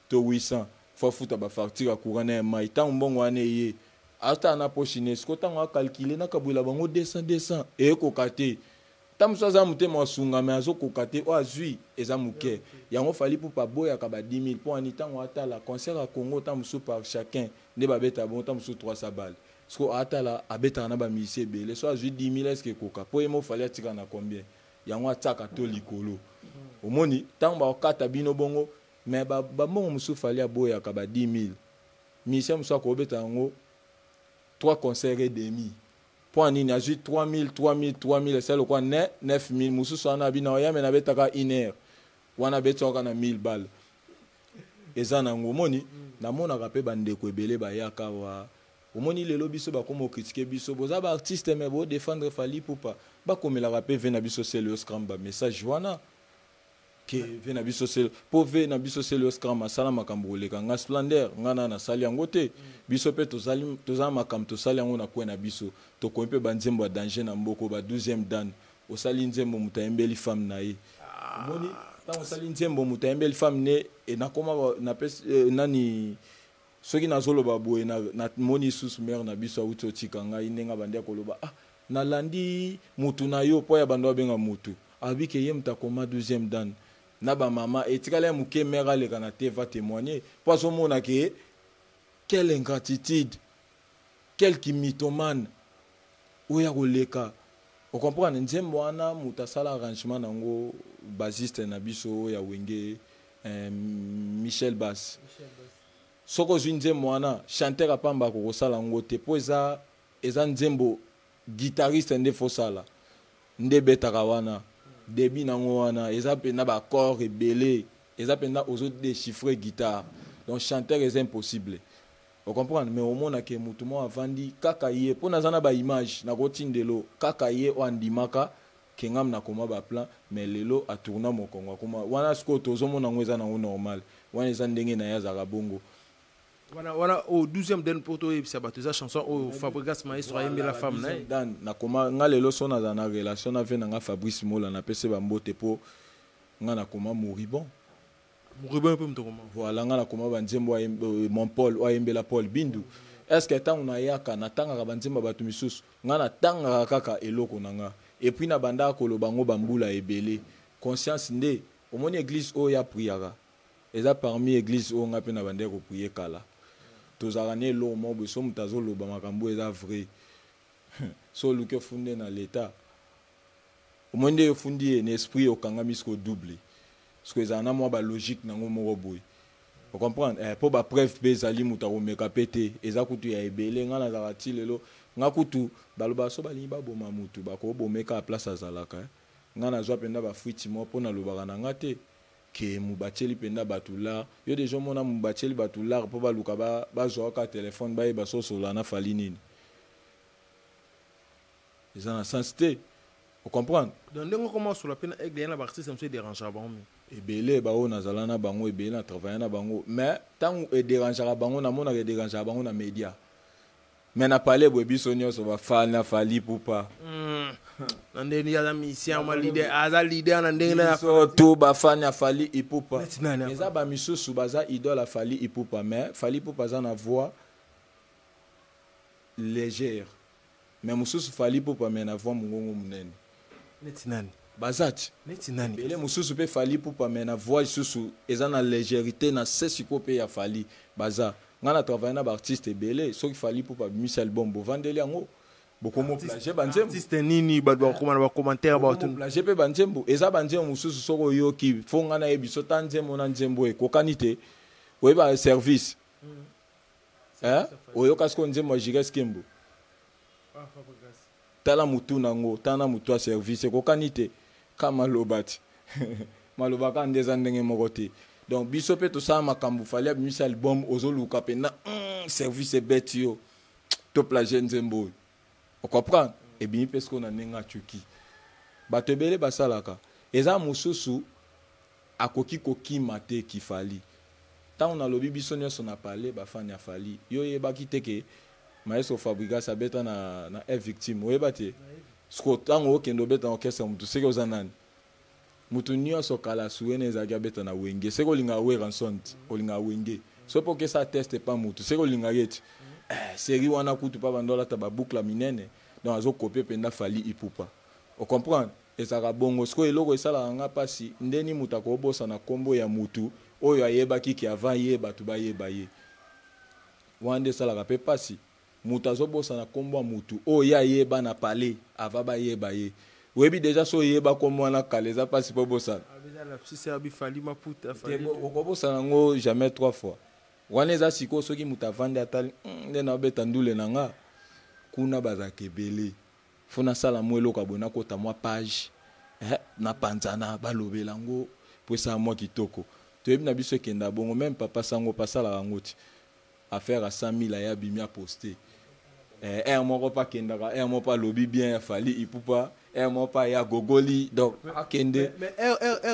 A: to 800 faut afuta ba facture ya courant na ya mai ntango mbongo wana eye azotala na poshi ne siko ntango akalkile nakabwela bango 200 200 eyekoka te ta mosusu aza motema wasunga me azokoka te oyo azwi eza moke yango fali pupa aboyaka ba 10 000 mpo ani ntango atala concert ya congo ta mosusu par chacun nde babeta bongo ta mosusu 300 bale siko atala abetaka na bamusicien ebele so azwi 10 000 eske ekoka mpo ye mo fali atika na combien yango atiaka to likolo omoni ntango bakokata bino bongo Mais ba ba mbongo mususu fali aboyaka ba 10000. Musicien mususu akobeta yango 3 concert et demi. Point nini azui 3000 3000 3000 esa lokwa ne 9000 mususu wana abina oyame na betaka 1 heure. Wana betsaka na 1000 balles. Eza nango omoni mm. namonaka pe ba ndeko ebele bayaka wa omoni lelo biso bakoma okritike biso boza baartiste me bodefendre fali pupa bakomelaka pe ve na biso seleoscram bamessage wana ke ve na biso selo mpo ve na biso selo yo scram asala makambo koleka nga splendeur nga na nasali yango te biso mpe tozala makambo tosali yango na kwe na biso tokomi mpe banzembo ya danger na mboko ba 12e dan osali nzembo moto ayembeli femme na ye omoni ntango osali nzembo moto ayembeli femme ne e nakoma napesi e, nani soki nazoloba boye namoni lisusu mare na biso awuti otika ngai ndenge abandi akoloba ah nalandi mutu na yo mpo ya bando abenga mutu abi ke ye moto akoma 12e dan na bamama etikala ya moke mare aleka na te va témoigner mpo azomona ke quelle ingratitude Quel ki mythomane oyo ako leka o comprendre nzembo wana mutu asala arrangement nango bassiste na biso oyo ya wenge eh, Michel Bass soki ozwi nzembo wana chanteur apamba ako kosala yango te po eza eza nzembo guitariste nde fo sala nde betaka wana debut nango wana eza pena ba accord ebele eza pena ozo déchiffrer guitare donc chanteur eza impossible O comprendre mais omona ke mutu mo avandi kaka ye po naza na ba image nako tindelo kaka ye o andimaka ke ngam na koma ba plan mais lelo a tourna mokongo akoma wana sikoyo tozo mona ngo eza nango normal wana eza ndenge naye azalaka bongo wana
B: wana o 12e den po to yebisa batu eza chanson oyo Fabrigas Maestro ayembela femme na dan na koma
A: nga lelo so naza na relation na vie na nga Fabrice Mola na pese ba mbote po nga na koma moribond Ruben
B: mpe moto akoma. Voilà nga nakoma ba
A: nzembo ya euh, mon Paul oyo ayembela Paul Bindu. Est-ce que ntango nayaka natangaka ba nzembo ya bato misusu? Nga natangaka kaka eloko na nga. Et puis nabandaka koloba yango ba mbula ebele. Conscience nde omoni eglise oyo ya priaka eza parmi eglise oyo nga mpe nabandaki koprie kala. Tozalaka na eloko moko boye so moto azoloba makambo eza vrai. so oluki ofunde na leta omoni nde ofundi ye na esprit okangami siko double siko ezala na mwa balogique nango moko boye ocomprendre eh, mpo bapreuve mpe ezali moto akomeka mpe te eza kutu ya ebele ngai nazalaka ti lelo ngai kutu balobaka so balingi baboma motu bakobomeka place azalaka eh. ngai nazwa mpenza bafuiti moko mpo nalobaka na ngai te ke mubaceli mpenza bato lar yo deja omona mubaceli bato lar mpo baluka bazwaka ba telefone bayeba sosolola na fali nini eza na sens te o comprendre donc ndenge okoma osola
B: mpe na aigle ya na baartiste mosusu ederangea bango mingi ebele baoyo nazala
A: na bango ebele na travaille na bango mais ntango ederangaka bango namonaka ederangaka bango na média mais na palais boye biso nyonso bafali na fali pupa hmm. na
B: ndenge ya misien ma leader aza leader na ndenge na biso to bafani
A: ya fali ipupa eza bamisusu baza idole ya fali ipupa mais fali ipupa aza na voix légère mais mususu fali ipupa mais na voix mungongo munene neti nani
B: baza ti
A: neti nani bele
B: mususu mpe fali
A: ipupa mais na voix lisusu eza na legerite na se sikoyo mpe ya fali baza ngai na travaille na baartiste ebele soki fali ipupa abimisi album bovandeli yango bokomoplage banzembo artiste nini bato
B: bakokoma na bacommentaire bato plage mpe banzembo
A: eza banzembo mosusu soki oyoki fo ngai nayebi so ta nzembo na nzembo ekokani te oyeba service eh? oyoka sikoyo nzembo ya jires kembo tala motu na yango tala na motu ya service ekokani te ka maloba ti maloba kaka nde eza ndenge moko te donc biso mpe tosala makambo fali abimisa album ozoluka mpenza mm, service ebeti yo to plage nzembo oyo ocomprendre ebimi mpe sikoyo na ndenge acoki bato ebele basalaka eza mosusu Akoki ko kima te ki Fally. Tango na lobi biso nionso na palais ba fan ya Fally yo oyebaki te ke Maestro Fabrigas abeta na na F victim oyeba te? Sikoyo tango okende obeta na orchestre ya mutu seke oza nani? Mutu nionso kala Suena ezalaki abeta na Wenge seke olingaka Werrason te olingaka Wenge soki pe oke sala test epa mutu seke olingaka ye te? Eh serie wana kutu pa banda olata ba boucle ya minene donc azo copie penda Fally Ipupa o comprendre? Ezalaka bongo sikoyo eloko esalaka nga pasi ndeni mutu akobosana kombo ya mutu oyo ayebaki ki avant ye batu bayeba ye wana nde esalaka pe pasi mutu azobosana kombo ya mutu oyo ye ayeba na palais avant bayeba ye oyebi deja so oyeba kombo wana kala eza pasi po obosana
B: okobosana
A: yango jamais trois fois wana eza sikoyo soki mutu avandi atali hmm, nde naobeta ndule na nga kuna bazalaka ebele faut nasala mwa eloko ya boye nakota mwa page eh, napanzana balobela yango mpo esala mwa kitoko toyebi na biso ekenda bongo meme papa sango mpe asalaka yango ti affaire ya 100 000 aya bimi aposte eh, aire moko mpe akendaka aire moko mpe alobi bien ya fali ipupa aire moko mpe aya gogoli donc akende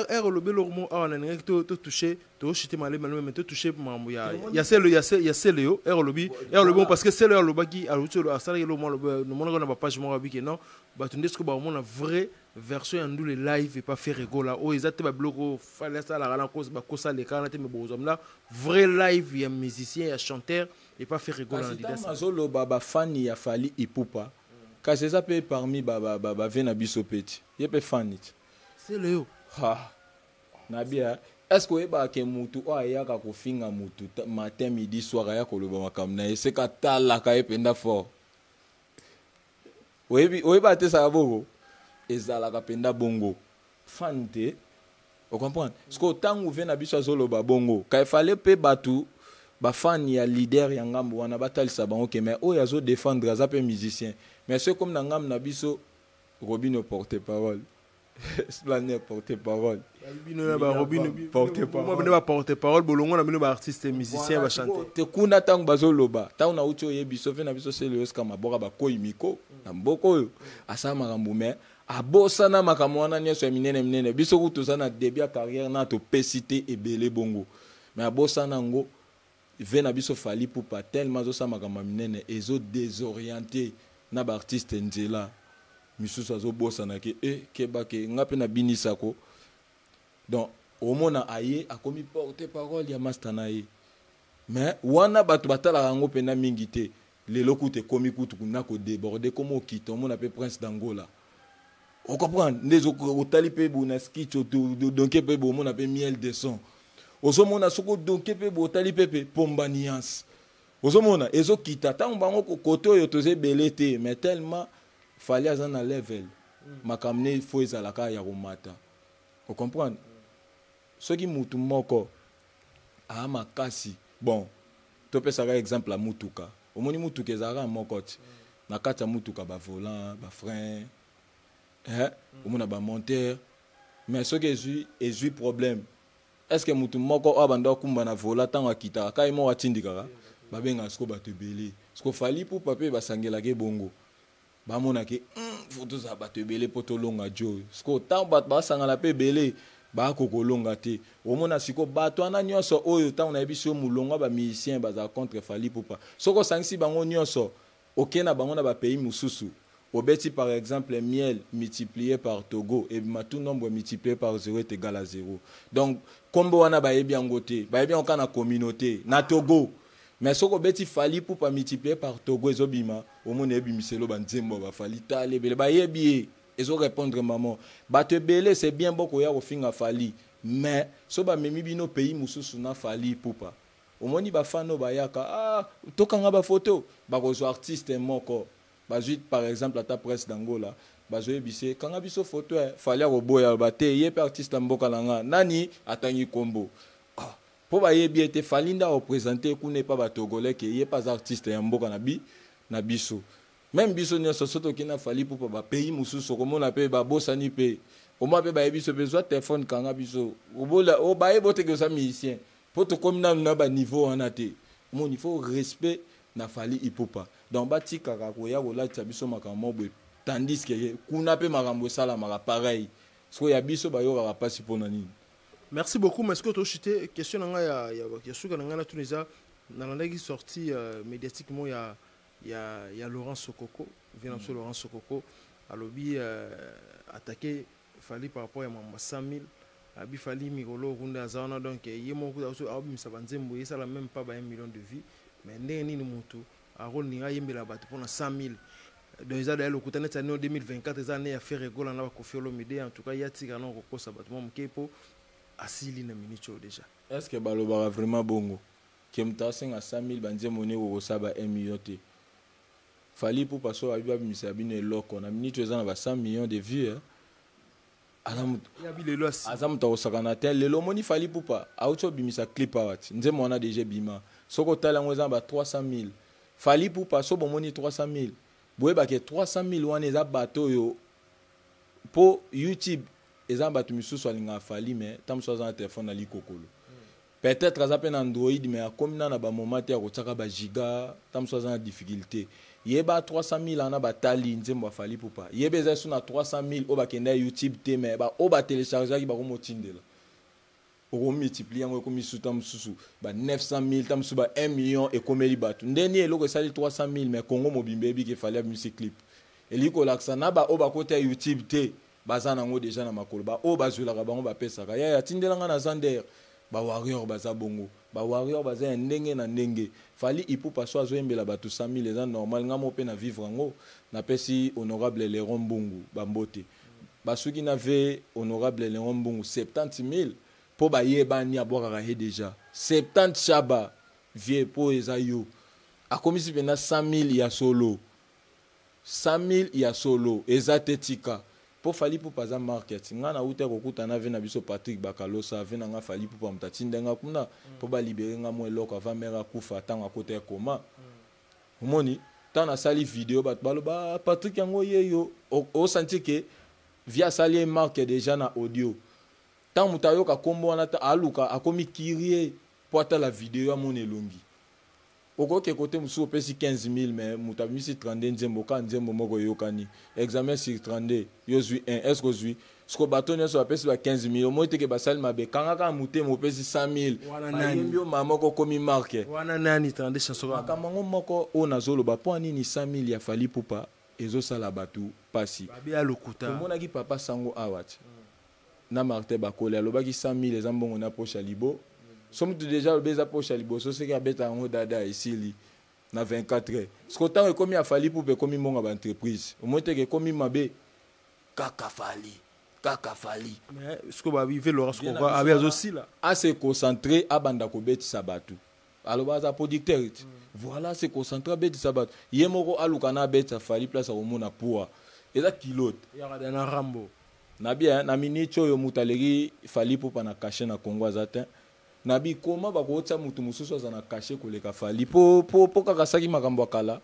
B: aire olobi eloko moko awa nalingaki totouche toshite malembe malembe me totouche mambo ya selo ya selo yo ere olobi ere olobi mo parce que selo alobaki aluti asalaki elo nomonaka na bapage moko abiki non bato nde soki bakomona vrai version ya ndule live epa fere gola oyo eza te babiloko fali asalaka na bakosa alekana te me bokozwa mna vrai live ya musicien ya chanteur epa fere gola na lidas azoloba
A: bafani ya fali ipupa kasi eza mpe parmi bave na biso mpe ti ye mpe fani ti selo yo na bien est ce que oyebaka ke mutu oyo ayaka kofinga mutu matin midi soir aya koloba makambo na ye seke atalaka ye mpenza fort oyebi oyebi atesaka bongo ezalaka mpenza bongo fan te ocomprendre sikoyo ntango ve na biso azoloba bongo ka efale mpe bato bafani ya leader ya ngambo wana batalisa bango ke mai oyo azodefendre aza mpe musicien mais soki ekomi na ngambo na biso robino porte parole Splendeur porte parole.
B: Bino porte parole bolongo na bino ba artistes musiciens ba chanter. Te kuna tango bazo
A: loba, tango na uti oye biso fe na biso sele yoska maboka ba koi miko na mboko oyo asala makambo mais abosana makambo wana nyonso ya minene minene biso kutu toza na debut ya carrière na topesi te ebele bongo mais abosana yango Vieux na biso Fally Ipupa tellement azo sala makambo ya minene ezo desorienter na ba artistes nzela. Misusu azo bosana ke eh keba ke nga pe na binisa ko. Donc omona aye akomi porte parole ya masta na ye. Mais wana batu batalaka yango pena mingi te. lelo kutu ekomi kutu na kodeborde koma okita omona mpe prince d'angola ocomprendre nde otali mpe bo na skitch odonke mpe bo omona mpe miel de son ozomona soki odonke mpe bo otali mpe mpe pomba nuance ozomona ezokita ntango bango kote oyo toza ebele te mais tellement fali aza na level mm. makambo ne fo ezalaka ya komata ocomprendre soki motu moko aa makasi bon Topesa kaka exemple ya mutuka. Omoni mutuka ezalaka kaka moko ti. Na kati ya mutuka ba volants, ba freins, eh, omona ba monteurs. Mais soki ezui ezui problème, est ce que mutu moko oyo abanda akumba na volant tango akitaka kaka ye moko atindikaka? Babengaka sikoyo bato ebele. Sikoyo Fally Ipupa mpe basangelaka ye bongo. bamona ke hmm, fo tozala bato ebele mpo tolonga jo sikoyo ntango bato basangana mpe ebele bako kolonga te omona siko bato wana nyonso oyo ntango nayebisi yo molongo ba musicien bazala contre fali pupa soki osangisi bango nyonso oke na bango na bapays mosusu obeti par exemple miel multiplié par togo ebima tout nombre multiplié par zero est égal à zero donc nkombo wana bayebi yango te bayebi yango kaka na communauté na togo mais soki obeti fali ipupa multiplier par togo ezobima omona ebimiselo banzembo ya bafali tala ebele bayebi ye ezo répondre maman bato ebele c'est bien bokoya kofinga fali mais so bamemi bino pays mosusu na fali ipupa omoni bafani oyo bayaka ah, tokanga bafoto bakozwa artiste moko bazwi par exemple ata presse d'angola bazoyebisa ye kanga biso foto eh, fali akoboya ba te ye mpe artiste ya mboka na nga nani atangi nkombo ah, Po bayebi ete Fally nde ako presenter kuna epa ba Togolais ke ye pe aza artiste ya mboka na bi na biso. Meme biso nionso soki toke na Fally Ipupa ba pays mosusu okomona pe ba bosani pe au moins pe bayebi biso pe zwa telephone kanga biso obola o baye bote ke oza musicien po tokomi nanu na ba niveau wana te. Omoni il faut respect na Fally Ipupa. Donc batikaka koya kolatisa biso makambo moko boye tandis ke kuna pe makambo esalamaka pareil. Sikoyo ya biso bayokaka pasi pona nini? Merci beaucoup
B: mais sikoyo toshite question na ngai ya, ya, ya suka na ngai na tuna eza nalandaki sortie uh, médiatiquement ya, ya, ya Laurent Sokoko vina biso mm. Laurent Sokoko alobi uh, attaqué Fally par rapport ya mamba 100 000 abi Fally mikolo okunda aza wana donc ye moko abimisa banzembo esala même pas ba 1 million de vie mais ndenge nini mutu Aaron Ninga ayembela bato mpo na 100.000 donc eza daya lokuta neti année 2024 eza année ya Ferre Gola na Koffi Olomide en tout cas ya tika na kokosa bato mwa moke mpo asili na minute oyo déjà est ce que balobaka
A: vraiment bongo ke moto asenga 100.000 banzembo ne kokosa ba 1 million te fali pupa so abi babimisa bino eloko na minute oyo eza na ba 100 millions de vues eh? aza moto akosakana te lelo omoni fali pupa auti obimisa clip awa ti nzembo wana deja ebima soki otali yango eza na ba 300 000 fali pupa so bomoni 300 000 boyebake 300 000 wana eza bato oyo mpo youtube eza na bato misusu alingaka fali me ntango mosusu aza na telefone na likokolo Peut-etre aza pe na Android mais akomi na na ba moment te akotiaka ba giga tango mosusu aza na difficulté. Yeba 300.000 wana batali nzembo ya Fally Ipupa. Yeba eza lisusu na 300.000 oyo bakenda YouTube te mais ba oyo ba telechargeaki bakomotindela. Oko multiplier yango ekomi lisusu tango mosusu ba 900.000 tango mosusu ba 1 million ekomeli bato. Nde ni eloko esali 300.000 mais Congo mobimba eyebi ke Fally abimisi clip. Elingi kolakisa na ba oyo bakota YouTube te baza nango deja na makolo ba oyo bazwelaka bango bapesaka yaya atindela ngai na zander ba warrior baza bongo ba warrior baza ya ndenge na ndenge fali ipupa so azoyembela bato 100000 eza normal ngai moko mpe na vivre yango napesi honorable leron mbungu bambote basuki na ve honorable leron mbungu 70000 mpo bayebani abwakaka ye deja 70 shaba vie mpo eza yo akomisi mpenza 100000 ya solo 100.000 ya solo eza te tika po Fally Ipupa aza marque ya ti nga na wuta kokuta na vie na biso Patrick Bakalosa vie na nga Fally Ipupa moto atinde nga kuna po ba libere nga mwa eloko avant mère akufa tango akota ya koma omoni ntango nasali video bato baloba ah, Patrick yango ye yo osanti ke vie asali ye marque deja na audio ntango moto ayoka nkombo wana aluka akomi kirie po atala video amona elongi okoki kote mosusu opesi 15000 me moto abimisi 32 nzembo ka nzembo moko eyokani examen sur 32 yo ozwi 1 eske ozwi siko bato nyonso bapesi ba 15000 omoi teke basali mabe kanga kaka motema opesi 100000 bayembi yo mama moko okomi marke wana nani 32
B: chanson makambo yango moko
A: oyo nazoloba mpo anini 100000 ya fali pupa ezosala bato mpasi omonaki
B: papa sango
A: awa ti na martin bakoli alobaki 100 000 eza mbongo na poche ya libo so mutu deja alobi eza poche ya liboso soki abeta yango dada esili na 24 heures siko ntango ekomi afali pupe ekomi mbongo ya baentreprise omoi teke ekomi mabe kaka fali kaka fali
B: siko babive laurence koko abe azosila ase concentre
A: abanda kobetisa bato aloba aza producteur ti voilà se concentre abetisa bato ye moko aluka na abetisa fali place akomona pua eza kilote yakada na rambo
B: na bien na
A: minute oyo moto aleki fali popa na kashe na congo aza te na bikoma bakootisa moto mosusu aza na kashe koleka fali po, po, po kaka asaki makambo ya kala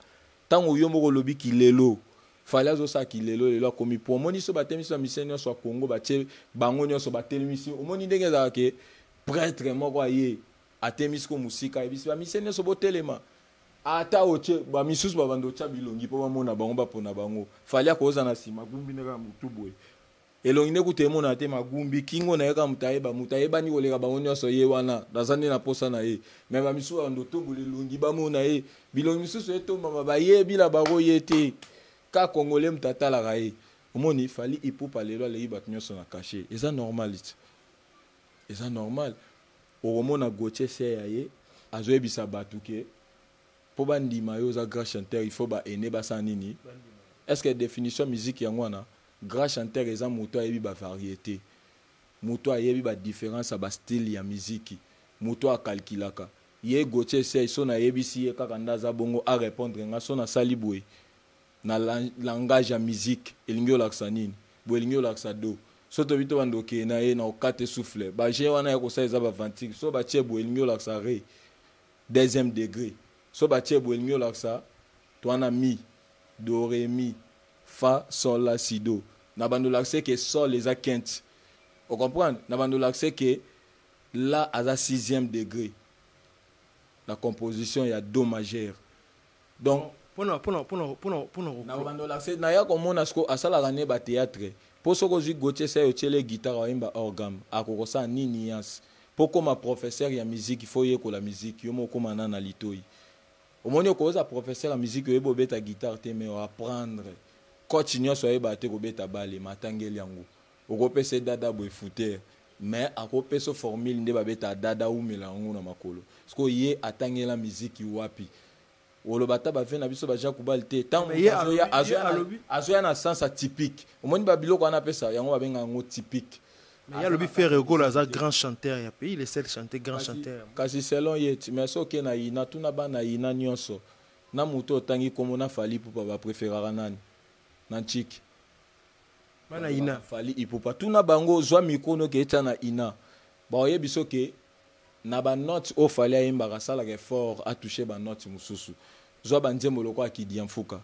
A: ntango yo moko olobi kilelo fali azosala kilelo lelo akomi po omoni so batelemisi bamisien nyonso ya congo batie bango nyonso batelemisi omoni ndenge ezalaka ke pretre moko aye atemisi ko mosika ayebisi bamisie nyonso botelema ata otye bamisusu babanda otya bilongi mpo bamona bango bapona bango fali akoza na nsima gumbi nde kaka motu boye elongi nde kuta emonana te magumbi kingo na ye kaka moto ayeba moto ayebani koleka bango nyonso ye wana naza nde na mposa na ye me bamisusu babanda otombola elongi bamona ye bilongi misusu etombama bayebi na bango ye te ka kongole moto atalaka ye omoni fali ipupa lelo aleki bato nyonso na kashe eza normalite eza normal okomona gotie se ya ye azoyebisa bato ke mpo bandima yo oza grand chanteur il faut baene basala nini est ce que définition musique yango wana grand chanteur eza moto ayebi bavariété moto ayebi badifférence ya bastyle ya miziki moto akalkilaka ye gotie sei so nayebisi ye kaka nde aza bongo arépondre nga so nasali boye na langage ya musique elingi olakisa nini boye elingi olakisa do so toyebi to bando okeye na ye na okate souffle baje wana ya kosala eza baventique so batie boye elingi olakisa re deuxième degré so batie boye elingi olakisa to wana mi do re mi fa sol la si do na bando olakisa ke sol eza quinte ocomprendre na bando olakisa ke la aza sixième degré la composition ya do majeur donc pona pona pona
B: pona pona
A: na bando la fête na ya ko mona siko asalaka ne ba théâtre po soko zui Gauthier sai otiele guitare oyemba hors gamme akoko sa ni nuance po koma professeur ya musique faut yekola musique yo moko koma na na litoyi omoni okoza professeur ya musique oyebi obeta guitare te mais o apprendre coach nyonso ayeba te kobeta bale matangeli yango okopesa ye dada boye fouteur mais akopesa formule nde babeta dada umela yango na makolo sikoyo ye atangela miziki wapi oloba ata bave na biso baja kubal te ntango azoya na sens atypique omoni babiloko wana apesa yango babenga yango typique mais alobi ferre
B: okola aza grand chanteur ya pays le seul chanteur grand chanteur kasi selon ye ti
A: mais soki na ina tuna bana ina nyonso na moto otangi nkombo na fali pupa bapréféraka nani na ntiki
B: bana ina fali ipupa tuna
A: bango ozwa mikro noki etya na ina baoyebi so ke na banote oyo fali ayembaka asalaka effort atouche banote mosusu zwa banzembo lokola akidi ya mfuka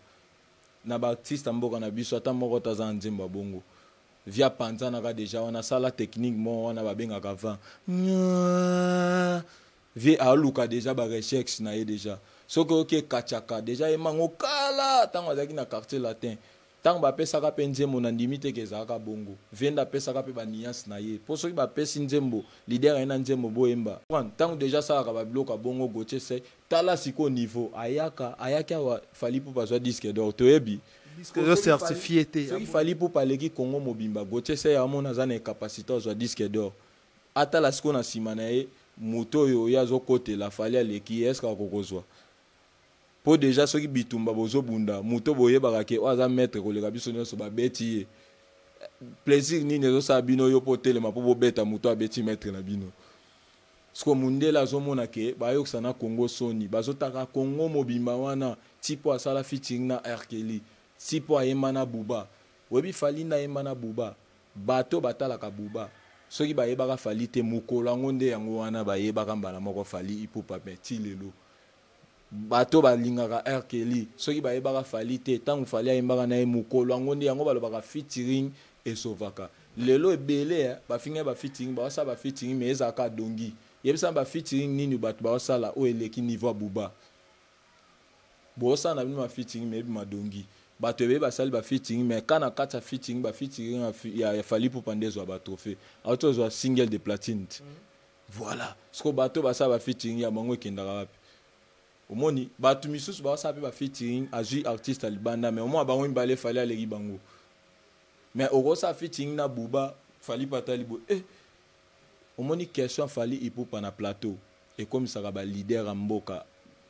A: na baartiste ya mboka na biso ata moko te aza na nzembo ya bongo via panzanaka deja wana asala technique moko wana babengaka van vie aluka deja barechexe na ye deja soki oyoki ekachaka deja ye mango kala ntango azalaki na quartier latin Tango ba pesaka pe nzembo na ndimi te ke ezalaka bongo. Venda apesaka pe ba nuance na ye. Po soki ba pesi nzembo, leader aye na nzembo bo yemba. Tango dejà asalaka ba biloko ya bongo Gauthier sey tala sikoyo niveau ayaka, ayaki awa Fally Ipupa azua disque d'or toyebi. Disque eza
B: certifie te. Soki Fally Ipupa aleki
A: Congo mobimba Gauthier sey amona aza na incapacite azua disque d'or. Atala sikoyo na sima na ye moto oyo ye azo kotela Fally aleki ye est ce que ako kozua? po deja soki bitumba bozobunda moto boyebaka ke oyo aza maître koleka biso nyonso babeti ye plaisir nini ezosala bino yo mpo otelema mpo bobeta moto abeti maître na bino siko mundele azomona ke bayokisa na congo soni bazotaka congo mobimba wana ti mpo asala featuring na arkeli ti mpo ayemba na buba oyebi fali nde ayemba na buba bato batalaka buba soki bayebaka fali te mokolo yango nde yango wana bayebaka mbala moko fali ipupa me ti lelo bato balingaka r kelly soki bayebaka fali te ntango fali ayembaka na ye mokolo yango nde yango balobaka featuring esovaka lelo ebele eh, bafingai ba featuring bawasala ba featuring mais ezalaka dongi yebisana ba featuring nini bato bawasala oyo eleki niveau ya buba bosala na bino ba featuring mais ebima dongi bato ebele basali ba featuring mais ka na kati ya featuring ba featuring ya, ya, ya fali pupa nde ezwa ba trophée auti ozwa single de platine mm -hmm. Voilà. Siko bato basala ba featuring ya bango ekendaka wapi? Omoni bato misusu basala pe ba featuring azui artiste ya libanda mais omona bango mibale fali aleki bango. Mais okosala featuring na Buba fali patali bo eh omoni question fali ipupa na plateau ekomisaka ba leader ya mboka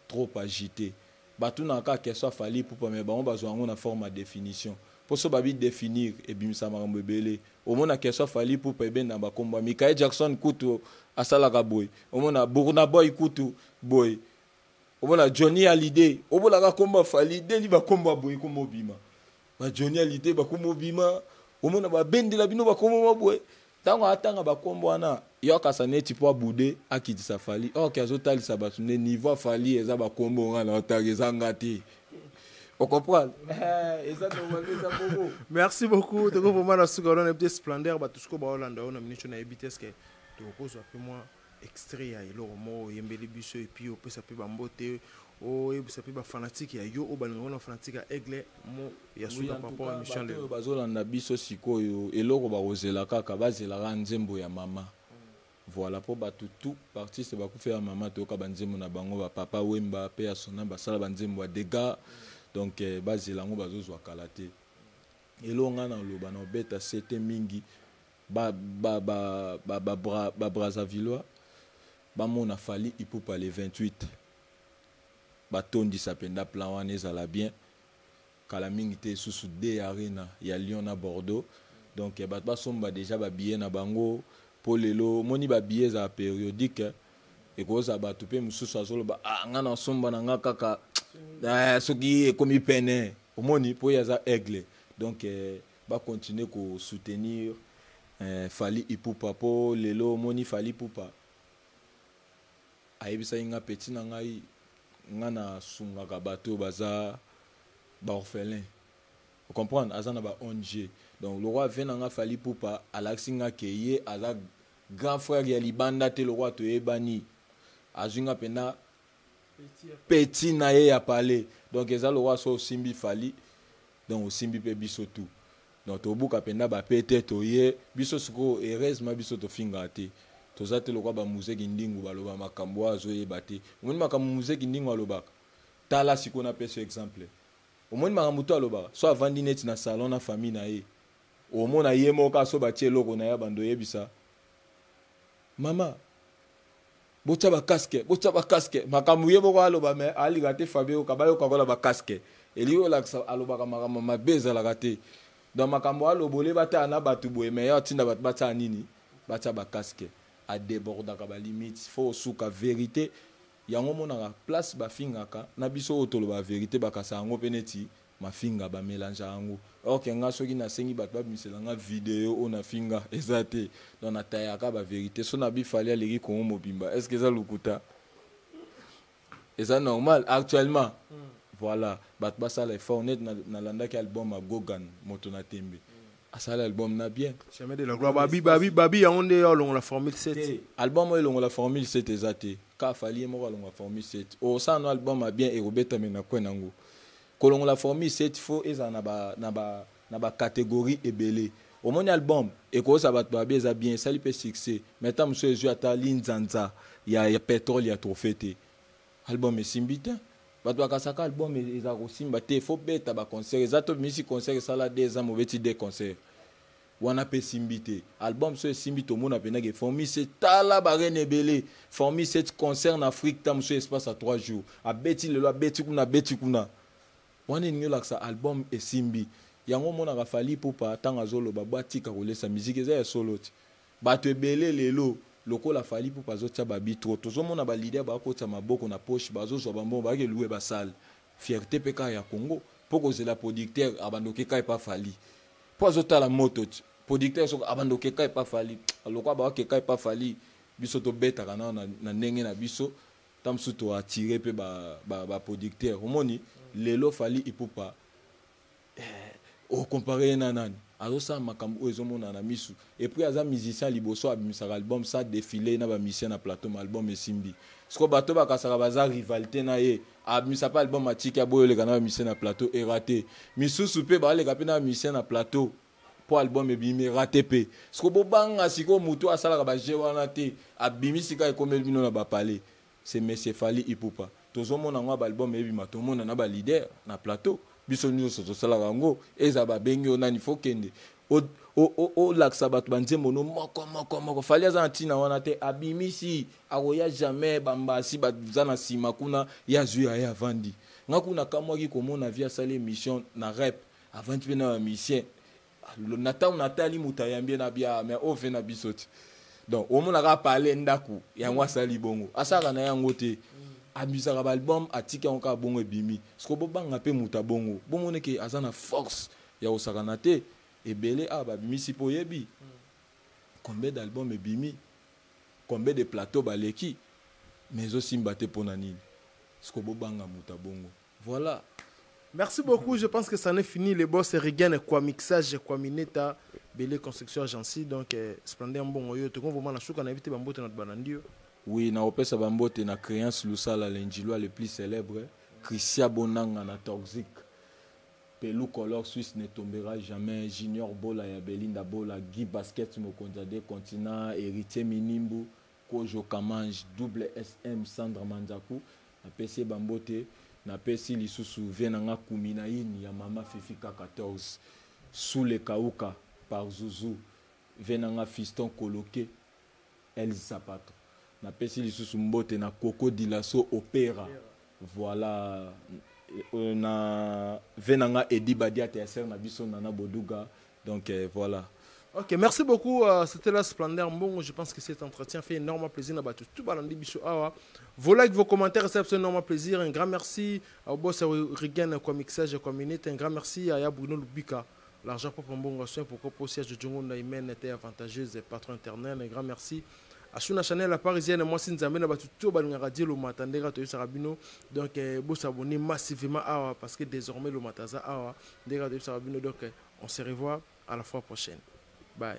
A: trop agite batunaka kaka question ya fali ipupa me bango bazwa yango na forme ya definition mpo so babi definir ebimisa makambo ebele omona question ya fali ipupa ebenda bakombo ya mikael jackson kutu asalaka boye omona burnaboy kutu boye omona johnny alide obolaka kombo ya fali deli bakombo ya boye komobima ba Johnny Hallyday bakomo bima omona babendela bino bakomo mabwe ntango atanga bakombo wana yo akasa neti mpo abude akitisa fali ok azotalisa bato nde niveau afali eza bakombo nga na otanga eza nga te okomprendre eh, eza normal eza bongo merci beaucoup
B: toko vraiment na suka wana mpe splendeur bato siko baolanda yo na minitio nayebi te eske tokozwa mpe mwa Extrait ya eloko moko oyembeli biso et puis opesa pe ba mbote oyebisa pe ba fanatique ya yo oyo balingaka na fanatique ya Aigle mo ya suka par rapport à mission lelo. Bazolanda biso
A: sikoyo eloko bakozela kaka bazela kaka nzembo ya mama. Voilà po bato tout b'artiste bakufela mama toyoka ba nzembo na bango ba papa Wemba pe ya sona basala ba nzembo ya degat donc eh, bazela yango bazozwa kala te. Eloko nga naloba na obeta sete mingi ba ba ba ba ba, bra, ba Brazzavillois bamona Fally Ipupa le 28 batondisa mpenza plan wana ezala bien kala mingi te susu de arena ya Lyon na Bordeaux donc eh, bato basomba deja babillet na bango mpo lelo omoni babillet ezala periodique ekozala bato mpe mosusu azoloba ah, nga nasomba na nga kaka eh, soki ekomi pene omoni mpo ye aza aigle donc eh, ba continuer ko soutenir eh, Fally Ipupa po lelo moni Fally Ipupa ayebisaki nga petit na ngai nga na sungaka bato oyo baza ba orphelin comprendre aza na ba ONG donc lokola vie na nga Fally Ipupa alakisi nga ke ye aza grand frère ya libanda te lokola toyebani azwi nga mpena petit na ye ya palais donc eza lokola so osimbi fali donc osimbi mpe biso tout donc tobuka mpenza bapete toye biso sikoyo heureusement biso tofingaka te toza te lokola bamuze kindingu baloba makambo oyo azoyeba te omoni makambo muze kindingu alobaka tala sikoyo napesi exemple omoni makambo to alobaka so avandi neti na salon na famille na ye omona ye moko aso batie eloko na ye bando oyebisa mama botya bakaske botya bakaske makambo ye moko aloba me alinga te fabio oyoka bayoka kola bakaske elingi olakisa alobaka makambo mabe ezalaka te donc makambo aloba olie batala na bato boye me ya otinda bato batya nini batya bakaske adebordaka balimite fo osuka verite yango omonaka place bafingaka na biso oyo tolobaka verite bakasa yango mpe neti mafinga ba melange yango or ke nga soki nasengi bato babimisela nga video oyo nafinga eza te donc natayaka ba verité so na bifali aleki kongo mobimba est ce que eza lokuta eza normal actuellement mm. voilà bato basala effort neti nalandaki na album ya gogan moto na tembe mm. asala album na bien chemin de la gloire babi
B: babi babi yango nde olongola formule 7 album oyo elongola
A: formule 7 eza te ka fali ye moko alongola formule 7 osala no album ya bien ekobetame na kwe nango kolongola formule set fo ezala na ba na ba na ba catégorie ebele omoni album ekoyosa bato babi eza bien esali mpe succès mais ntango mosusu ezwi ata linzanza ya, ya petrole ya trophée te album esimbi te bato bakasaka album e-, eza kosimba te fo beta baconcert eza to bimisi concert esala de eza mobeti de concert wana pe esimbi te album so esimbi tomona pena ke formise tala barene ebele formise concert na afrique ta mosusu espace ya 3 jours abeti lelo abeti kuna abeti kuna wana elingi olakisa album esimbi yango omonaka fali pupa ntango azoloba bwa tika kolesa miziki eza ya solo ti bato ebele lelo lokola fali pupa azotya babitro tozomona balider bakotisa maboko na poche bazozwa bambongo bayaki eluwe basale fierte mpe kaka ya congo mpo kozela producteur abandoki ekai mpa fali po azotala moto ti producteur soko abanda okeka epa fali lokola baokeka epa fali biso tobetaka nao na, na ndenge na biso ta mosusu toattire mpe baproducteur ba, ba omoni lelo fali ipupa eh, okompare ye na nani azosala makambo oyo ezomonana na misu epuis aza musicien liboso abimisaka album sa defile na bamusicien na plateau ma album esimbi siko bato bakasaka baza rivalité na ye abimisa mpe album atiki aboyi oleka na bamisien na plateau erate misusu mpe baleka mpe na bamisien na plateau mpo album ebimi erate mpe siko bobanga sikoyo motu asalaka baje wana te abimi sika ekomeli bino na bapale se monsieur fali ipupa tozomona yango ya baalbum ebima tomona na balider na plateau biso nyonso tosalaka yango eza babengi yo nani fo kende olakisa bato banzembo no moko moko moko fali aza na ntina wana te abimisi akoya jamais bambasi baza na nsima kuna ye azwi aye avandi nga kuna akamwaki komona vie asali émission na rep avandi mpe na bamisien na ntango natali moto ayambi ye na bia ah, mais oyo mpe na biso te donc omonaka pale ndako yango mm. asali bongo asalaka na ye yango te mm. abusaka baalbum atiki yango kaka bongo ebimi soko bobanga mpe moto ya bongo bomoni ke aza na force ya kosakana te ebele awa ah, babimisi mpo oyebi mm. combien d'album ebimi Combien de plateau baleki mais ezo simba te pona nini? Siko bo banga mutu ya bongo voila. Merci
B: beaucoup, je pense que ça n'est fini. Les boss Regen et quoi mixage, quoi mineta, belé construction agency. Donc, eh, splendeur mbongo yo. Tout comme vous m'en a souka, n'invite bambote notre banandio. Oui, na opesa
A: bambote na créance lusala l'enjilois le plus célèbre, Christian Bonanga na Toxic. Pelou color suisse ne tombera jamais junior bola ya belinda bola guy basket mokonzi ya de continent heritier minimbu kojo kamange double sm sandra manzaku napesi ye bambote napesi lisusu vie na nga kumi na ini ya mama fifi ka 14 sule kauka par zuzu vie na nga fiston koloke Elz Sapato. Napesi lisusu mbote na Coco Dilaso Opera. Voilà euh, na ve na nga Eddie Badiate ya sœur na biso Nana Boduga. Donc euh, voilà. Ok, merci
B: beaucoup. Euh, C'était la Splendeur Mbongo. Je pense que cet entretien fait énormément plaisir à tous. Tout balandi bisous. Awa. Vos likes, vos commentaires, c'est absolument plaisir. Un grand merci au boss Regan, quoi mixage, quoi minute. Un grand merci à Bruno Lubika. L'argent propre mbongo soin pourquoi posi ya Jojo Ngonda humaine était avantageuse patron internel un grand merci Asuna Chanel la parisienne mwasi nzambe na batu to balingaka die lomata ndenge atoyebisaka bino donc eh, bosabone massivement awa parce que désormais lomata aza awa ndenge atoyebisaka bino donc eh, on se revoit à la fois prochaine bye